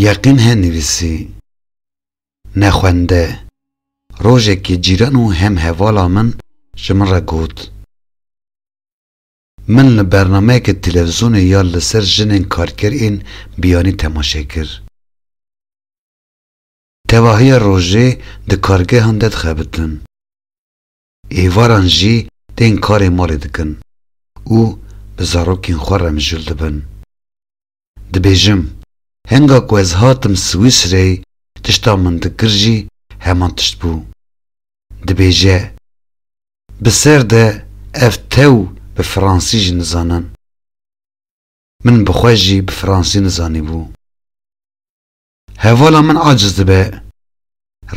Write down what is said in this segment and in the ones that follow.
Yeqîn he nivîsî, Nexwende, rojekê cîran û hemhevala min ji min re got, Min li bernameyeke televîzyonê ya li ser jinên karker ên biyanî temaşe kir. Tevahiya rojê di kargehan de dixebitin. Êvaran jî tên karê malê dikin û bi zarokên xwe remjûl dibin. Dibêjim, henga ku ez hatim Swîsreyê tişta min dikir jî heman tişt bû. Dibêje, Bi ser de ev tew bi fransî jî nizanin. Min bi xwe jî bi fransî nizanîbû. Hevala min aciz dibe.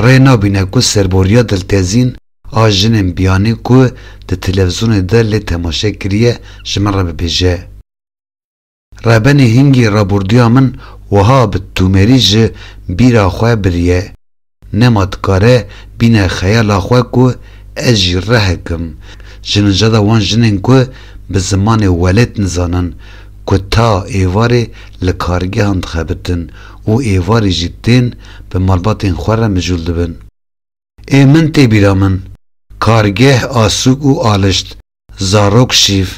Rê nabîne ku serboriya diltezîn a jinên biyanî ku di televizonê de lê temaşe kiriye ji min re bibêje. Rebenê hingî raborduya min wiha bi tûmerî ji bîra xwe biriye. Nema dikare bîne xeyala xwe ku ez jî rehek im. Ji nicada wan jinên ku bi zimanê welêt nizanin ku ta êvarê li kargehan dixebitin û êvarê jî tên bi malbatên xwe re mijûl dibin. Ê min tê bîra min, kargeh, asûk û alişt, zarok, şîv,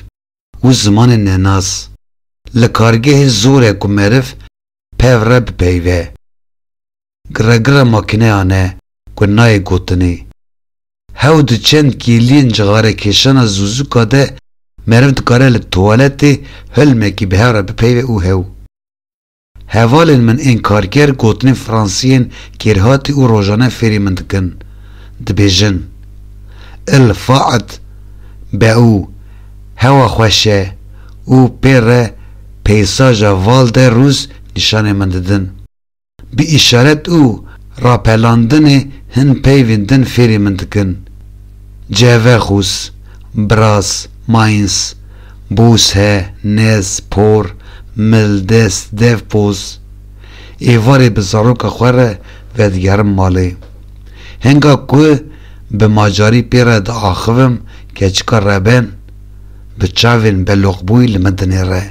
û zimanê nenas, li kargehê zor e ku meriv pev re bipeyve. Giregire makîneyan e ku nayê gotinê. Hew di çend kêliyên cixarekêşana zûzûka de meriv dikare li tuwaletê hilmekî bi hev re bipeyve û hew. Hevalên min ên karker gotinên fransiyên kêrhatî û rojane fêrî min dikin. Dibêjin, Il faet beau, hewa xweş e, û pê re peysaja Val de Ruz nîşanê min didin. Bi îşaret û rapelandinê hin peyvên din fêrî min dikin. Cevexûs, Braz, Mainz, Bûshe, Nez, Por, Mildes, Devpoz, êvarê bi zaroka xwe re vedigerim malê. Henga ku bi macarî pê re diaxivim keçika reben, bi çavên beloqbûyî li min dinêre.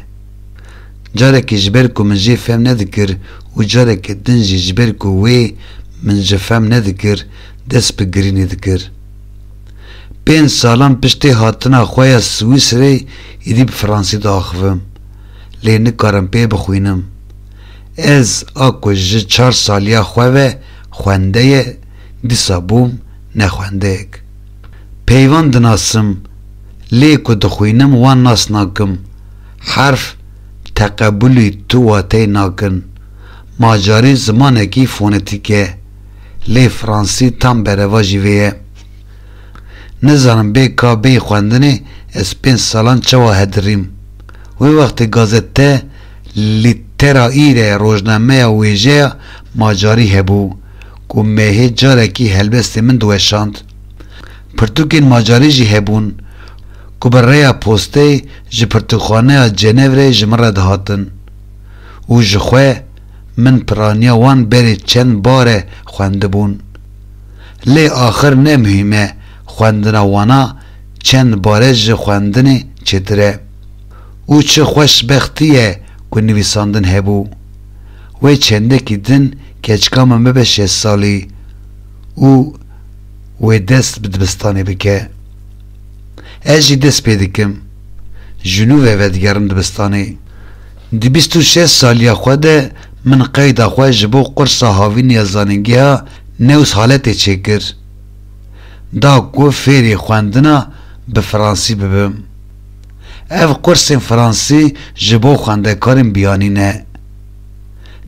Carekî ji ber ku min jê fem nedikir û carekî din jî ji ber ku wê min ji fem nedikir, dest bi girînê dikir. Pênc salan piştê hatina xwe ya Swîsreyê êdî bi fransî diaxivim, lê nikarim pê bixwînim. Ez a ku ji çar saliya xwe ve xwendeye dîsa bûm nexwendeyek. Peyvan dinasim, lê ku dixwînim wan nas nakim. Herf teqebulî tu wateyê nakin. Ma carî zimanekî fonetîk e. lê fransî tam bereva jî vê ye. Nizanim bê ka bê xwendinê ez pênc salan çawa hedirîm. Wê wextê gazete Lîtera Îre rojnameya wêjeya Macarî hebû ku mehê carekî helbestê min diweşand. Pirtûkên Macarî jî hebûn ku bi rêya posteyê ji Pirtûkxaneya Cenevreyê ji min re dihatin û ji xwe min piraniya wan berê çend bar e xwendibûn. Lê axir ne muhîm e xwendina wana çend bare ji xwendinê çêtir e. Û çi xweşbextî ye ku nivîsandin hebû. Wê çendekî din keçika min bibe şêst salî û wê dest bi dibistanê bike. Ez jî dest pê dikim. Ji nû ve vedigerim dibistanê. Di bîst û şeş saliya xwe de min qeyda xwe ji bo qursa havînê ya zanîngeha News Haletê çêkir. Da ku fêrê xwendina bi fransî bibim. Ev qursên fransî ji bo xwendekarên biyanî ne.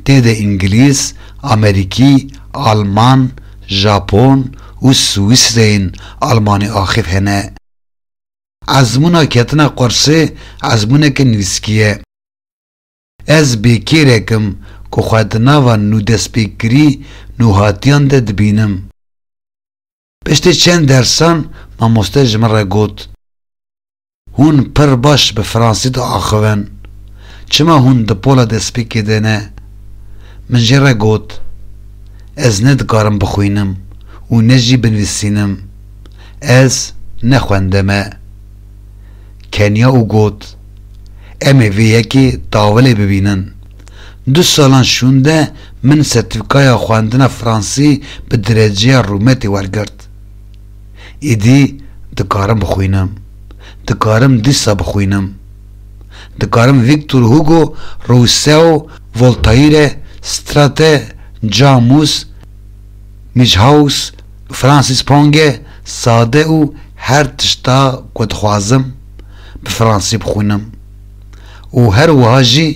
Tê de îngilîz, amerîkî, alman, japon û swîsreyên almanî axîf hene. Ezmûna ketina qursê ezmûneke nivîskî ye. Ez bêkêrek im ku xwe di nava nûdestpêkirî nûhatiyan de dibînim. Piştî çend dersan mamoste ji min re got, Hûn pir baş bi fransî diaxivin. Çima hûn di pola destpêkê de ne? Min jê re got, Ez ne dikarim bixwînim û ne jî binivîsînim. Ez ne xwende me. Keniya û got, Em ê vê yekê tawilê bibînin. Du salan şûnde min sertîfîkaya xwendina fransî bi dereceya rûmetê wergirt. Îdî dikarim bixwînim. Dikarim dîsa bixwînim. Dikarim Victor Hugo, Rousseau, Voltaire, Strate, Camus, Mijhaus, Francis Ponge sade û her tişta ku dixwazim bi fransî bixwînim û her wiha jî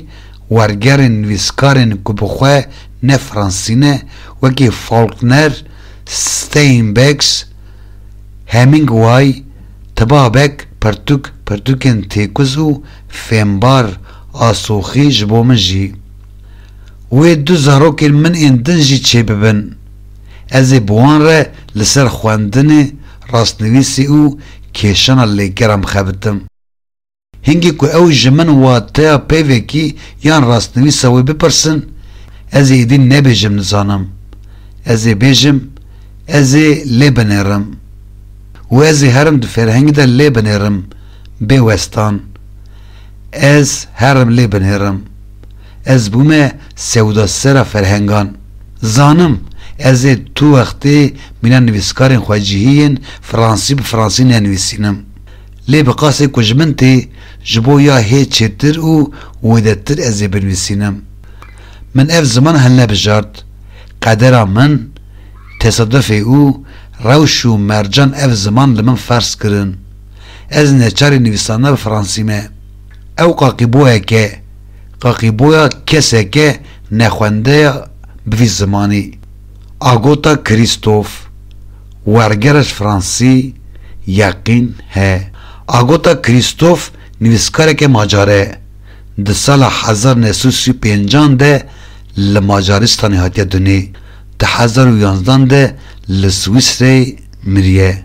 wergerên nivîskarên ku bi xwe ne fransî ne wekî Faulkner, Steinbecks, Hemingway, Tibabek, pirtûk pirtûkên têkuz û fêmbar a soxî ji bo min jî wê du zarokên min ên din jî çêbibin. Ez ê bi wan re li ser xwendinê, rastnivîsê û kêşana lêgeran bixebitim. Hingî ku ew ji min wateya peyvekî yan rastnivîsa wê bipirsin, ez ê êdî nebêjim nizanim. Ez ê bêjim, ez ê lê binêrim. Û ez ê herim di fêrhengî de lê binêrim, bê westan. Ez herim lê binêrim. Ez bûme sewdasera ferhengan. Zanim, ez ê tu wextê mîna nivîskarên xwe cihî yên fransî bi fransî nenivîsînim. Lê bi qasê ku ji min tê, ji bo ya hê çêtir û wêdetir ez ê binivîsînim. Min ev ziman hilnebijart. Qedera min, tesadufê û rewş û mercan ev ziman li min ferz kirin. Ez neçarî nivîsandina bi fransî me. Ew qaqîboyek e. Qaqîboya keseke nexwendeya bi vî zimanî, Agota Krîstof, wergerij fransî, Yeqîn, he. Agota Krîstof nivîskareke macar e. Di sala hezar new sed û sî û pênc an de li Macaristanê hatiye dunê. Di hezar û yanzdan de li Swîsreyê miriye.